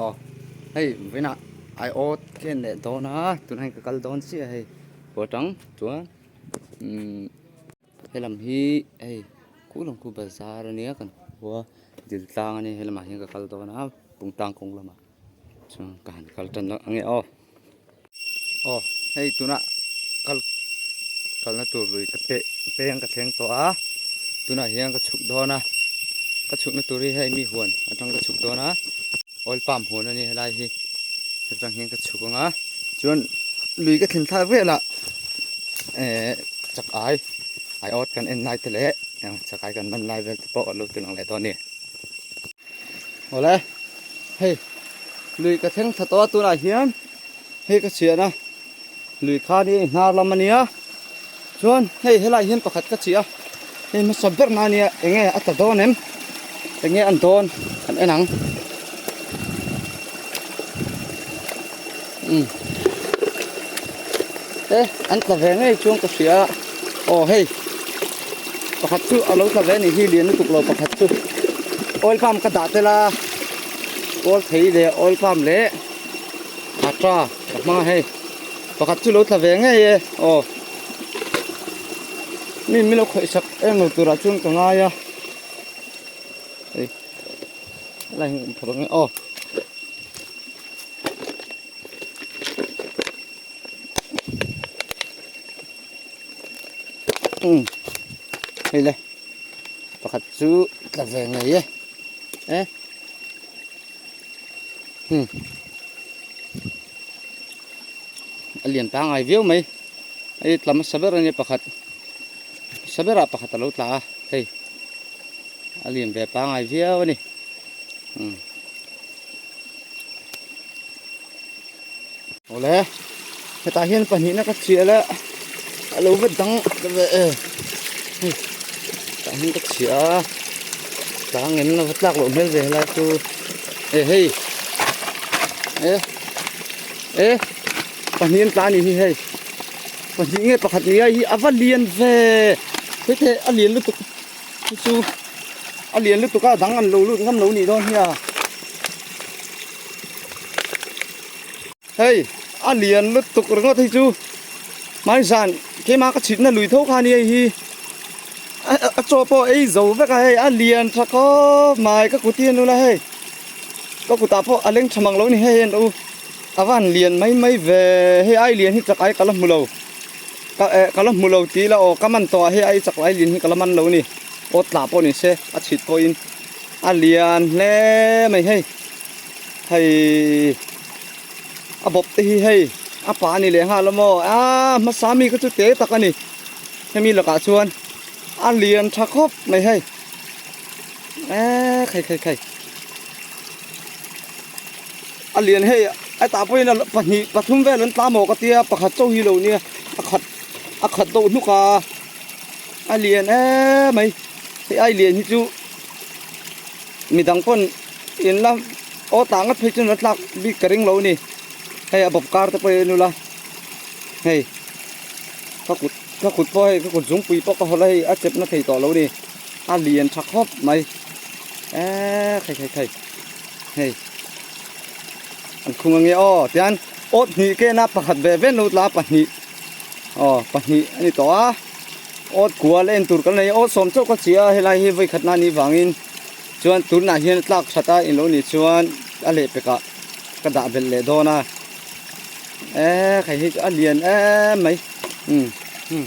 Aw, hei vina ai ot ken leh dawn a, tunah hian ka kal dawn chiah a hei, pawh atang chuan umm helam hi hei Khuhlawngphu bazar a nia kan hmu a, dil tlang a nia, helamah hian ka kal dawn a, pung tlang kawng lamah chuan ka han kal tan dawn ang e aw. Aw hei tunah kal kalna tur lui ka peh peng ka thleng tawh a tunah hian ka chhuk dawn a ka chhukna tur hi hei mi huan atang ka chhuk dawn a oil pump huan a ni helai hi hetang hian ka chhuk anga chuan lui ka thlen thar vela e chak ai ai ot kan en lai te leh chak ai kan man lai vel te pawh lo ti lang leh dawn ni Awle, hei lui ka thleng tha tawh a tunah hian hei ka chhiah na lui khan hi hnar lam a nia chuan hei helai hian pakhat ka chih a hei hmasa ber na nia eng nge a ta dawn em eng nge an dawn an en ang. umm he an tla ve ngei chuang ka hria aw hei pakhat chu a lo tla ve a nih hi lian lutuk lo pakhat chu oil pump ka dah tel a kawl phei leh oil pump leh ata ka hma hei pakhat chu lo tla ve ngei e aw mi min lo khawih sak em lo turah chuan ka ngai a hei a la inkhawh rawh ang e aw. um hei le pakhat chu tla ve ngei e e um a lian pangai viau mai hei tla hmasa ber ania pakhat hmasa berah pakhat a lo tla a hei a lian ve pangai viau a ni um Awle, hetah hian pahnihna ka chhiah la, a lo va dang ta ve e. Hei, hetah hian ka chhiah a, tlang ngen a va tlak loh hmel ve helai chu. E hei, e, e, pahnih an tla a nih hi hei. Pahnih nge pakhat ni a, hei hi a va lian ve. Hei te a lian lutuk. Chu chu a lian lutuk a dang an lo lut ngam lo nih dawn hi a. Hei a lian lutuk ringawt hi chu mai zan keima ka chhitna lui tho kha ni hei hi a chaw pawh ei zo vek a hei a lian tha khawp mai ka kut hi a nu la hei ka kutah pawh a leng tham ang lo ni hei a nu a van lian mai mai ve hei a ai lian hi chak ai ka la hmu lo. Ka eh ka la hmu lo ti ila aw ka man tawh ah hi a i chak lai lin hi ka la man lo a ni. Aw tla pawh ni se a chhit pawh in a lian hle mai hei. Hei a bawp te hi hei a pa a ni leh nghal a maw aa hmasa mi kha chu te tak a ni. Hemi lakah chuan a lian tha khawp mai hei eee khai khai khai. A lian hei hetah pawhin a pahnih pathum vel an tlam awk a tia pakhat chauh hi lo nia a khat a khat deuh hluk a a lian eee mai hei a lian hi chu mi dang pawn in la aw tah ngat phei chuan a tlak bik ka ring lo a ni hei a bawp kar te pawh hi a nula la hei ka kut ka kut pawh hei ka kut zungpui pawh ka haw la hei a chep na thei tawh lo a ni a lian tha khawp mai eee thei thei thei. Hei an khung ange aw tian awt hnih kena pakhat ve ve no tla pahnih aw pahnih a ni tawh a awt kual en tur kan nei awt sawm chauh ka chi a helai hi vaikhat na ni vangin chuan tunah hian a tlak that a in lo nih chuan a leh pek ah ka dah belh leh dawn a e hei hi chu a lian em mai umm umm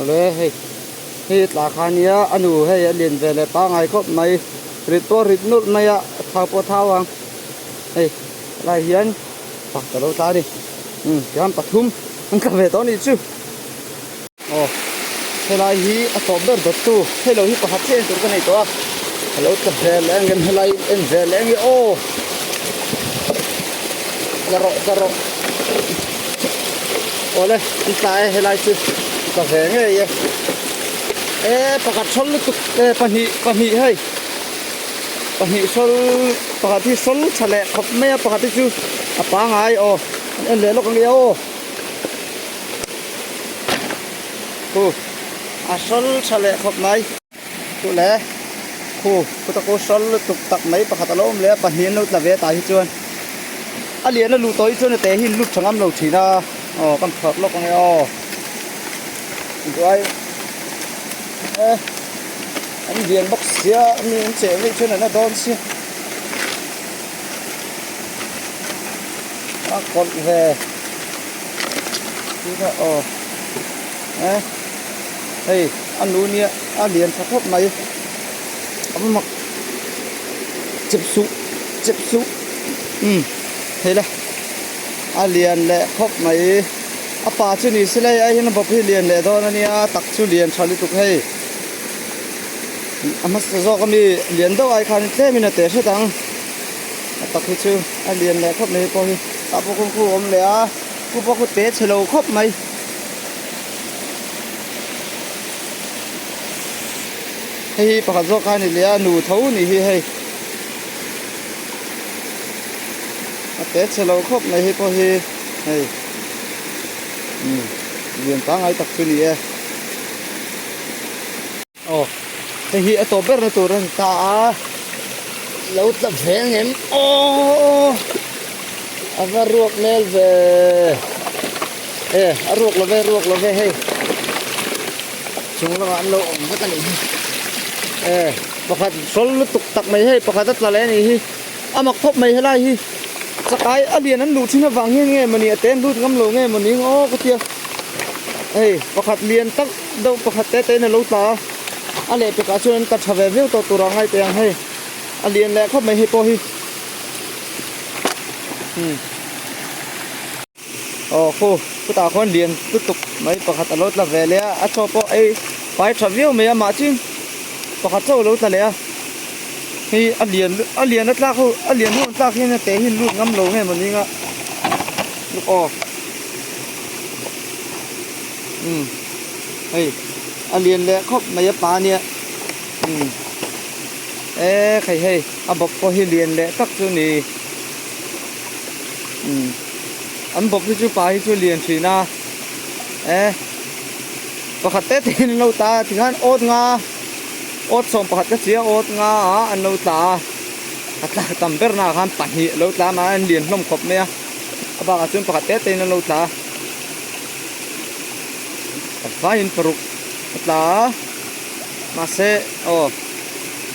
Awle hei hi tla kha nia a nu hei a lin ve leh pangngai khawp mai rit pawh a rit nulh mai a a thau pawh a thau ang hei lai hian pa ka lo tla a ni umm tiang an pathum an tla ve tawh a nih chu aw helai hi a tawp ber dawt tu hei lo hi pakhat chiah in tur ka nei tawh a a lo tla ve leh ang em helai in en ve leh ang i aw. zarok zarok awle an tla e helai chu ka ve ngei e e pakhat sawl lutuk e pahnih pahnih hei pahnih sawl pakhat hi sawl tha leh khawp mai a pakhat hi chu a pangai aw an en leh lawk ang e aw hu a sawl tha leh khawp mai. Chu le khu khutaku hral lutuk tak mai pakhat a lo awm leh a, pahnih an lo tla ve a tah hi chuan a lian a luh tawh hi chuan a te hi in lut chhangam lo thin a, aw kan chhuak lawk ang e aw duai e an lian bawk sia mi an cheh veih chuan an la dawn si a kawlh ve tih kha aw e. Hei a nu nia a lian tha khawp mai amak chep suh chep suh um hei la a lian leh khawp mai a pa chu ni se la hei a hina bawp hi lian leh dawn a nia a tak chu lian tha lutuk hei a hmasa zawk ami lian deuh ai khan tlem in a teh hret ang a tak hi chu a lian leh khawp mai pawh hi ah pawh kawngkhar a awm leh a pu pawh kha te che lo khawp mai. hei hi pakhat zawk a ni leh a nu tho a ni hi hei a te che lo khawp mai hi pawh hi hei umm lian pangngai tak chu ni e. Aw, hei hi a tawp ber na tur a ni ta a, lo tla ve ang em? Aw! A va ruak hmel ve. Eh, a ruak love, ruak love hei. Chung lamah an lo awm vek a nih hi. Eh, pakhat hrawl lutuk tak mai hei, pakhat a tla leh a nih hi. A mak thawp mai helai hi. Chakai a lian an luh thin avang hian nge mawni a te an lut ngam lo nge mawni? Aw, ka tia. Hei, pakhat lian tak. Deuh pakhat te tein a lo tla a, a leh pekah chuan an ta tha ve viau tawh tur a ngai teh ang hei. A lian leh khawp mai hei pawh hi. Umm. Aw khu, khutah khawn lian lutuk mai pakhat a lo tla ve leh a, a chaw pawh ei pai tha viau mai a mah chin pakhat chauh a lo tla leh a. Hei a lian lutuk, a lian a tlak ho, a lian ho an tlak hian a te hi an lut ngam lo ngei maw ning a. Aw. Umm hei a lian leh khawp mai a pa nia umm e khei hei a bawp pawh hi lian leh tak chu ni umm an bawp hi chu pa hi chu lian thin a e pakhat te tehin an lo tla a tikhan awt nga awt sawm pakhat ka sia awt nga a an lo tla a a tla tam ber naah khan pahnih a lo tla a mahna an lian hlawm khawp mai a a bakah chuan pakhat te tehin an lo tla a. a tlaiin paruk a tla a mahse aw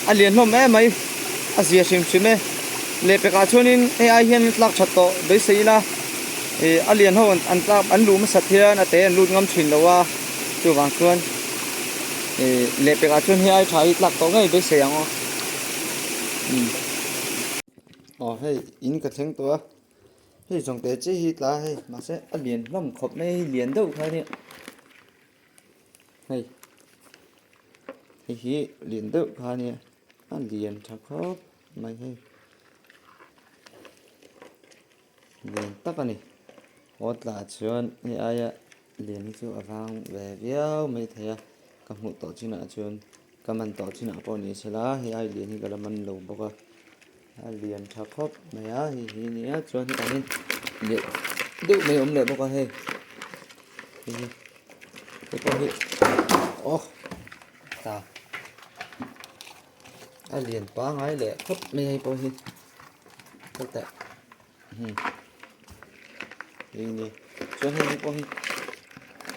a lian hlawm em mai a zia hrim hrim e leh pekah chuanin hei ai hian a tlak that tawh beisei ila ih a lian ho an tlak an luh hmasat hian a te an lut ngam thin loh a chuvang chuan ih leh pekah chuan hei ai tha hi tlak tawh ngei beisei ang aw aw hei in ka thleng tawh a. Hei zawngte che hi tla hei mahse a lian hlawm khawp mai hi lian deuh kha nia hei hei hi lian deuh kha nia a lian tha khawp mai hei lian tak a ni aw tla chuan hei aia lian hi chu a vang ve viau mai thei a ka hmuh tawh chinah chuan-- Ka man tawh chinah pawh ni se la, hei ai lian hi ka la man lo bawk a, a lian tha khawp mai a, hei hi a nia, chuan hetiang in leh deuh mai a awm leh bawk a hei, hei hi, te pawh hi awh ta, a lian pangai leh khawp mai a hei pawh hi, heta. Hum. Ini. Chuan hei pawh hi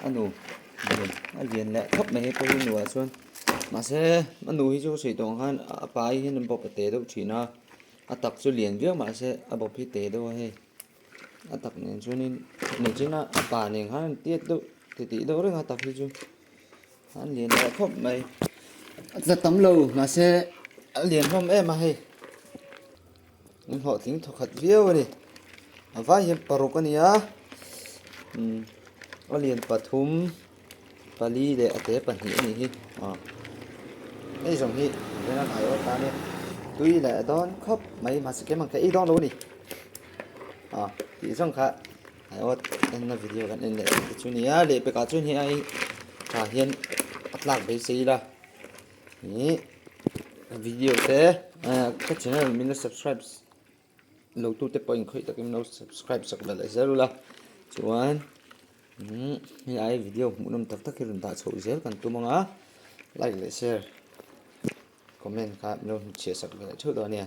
a nu lian a lian leh khawp mai pawh hi nuah chuan mahse a nu hi chu ka sawi tawng khan a pa hi hian bawp a teh deuh thin a a tak chu lian viau mahse a bawp hi teh deuh a hei a tak nen chuanin ni chhinga a pa nen khan an tiat deuh ti tih deuh reng a tak hi chu an lian leh khawp mai a tla tam lo mahse a lian hlawm em a hei Min hlawh tling tha khat viau a ni. A vai hian paruk a ni a, umm a lian pathum, pali leh a te pahnih a nih hi aw. Hei zawng hi engzawng an aiawh a tan e, tui leh dawn khawp mai mahse keng ang kha ei dawn lo a ni. Aw tih zawng kha aiawh enna video kan en leh ang te chu a ni a, lehpek ah chuan hei a tah hian a tlak beisei ila. Heh video te ka channel min la subscribe lo tu te pawhin khawih takin min lo subscribe chak belh leh zel ula chuan helai video hmuh nawm tak tak hi rawn dah chho zel kan tum anga like leh share comment kha min lo chhiah chak belh leh theuh dawn a nia.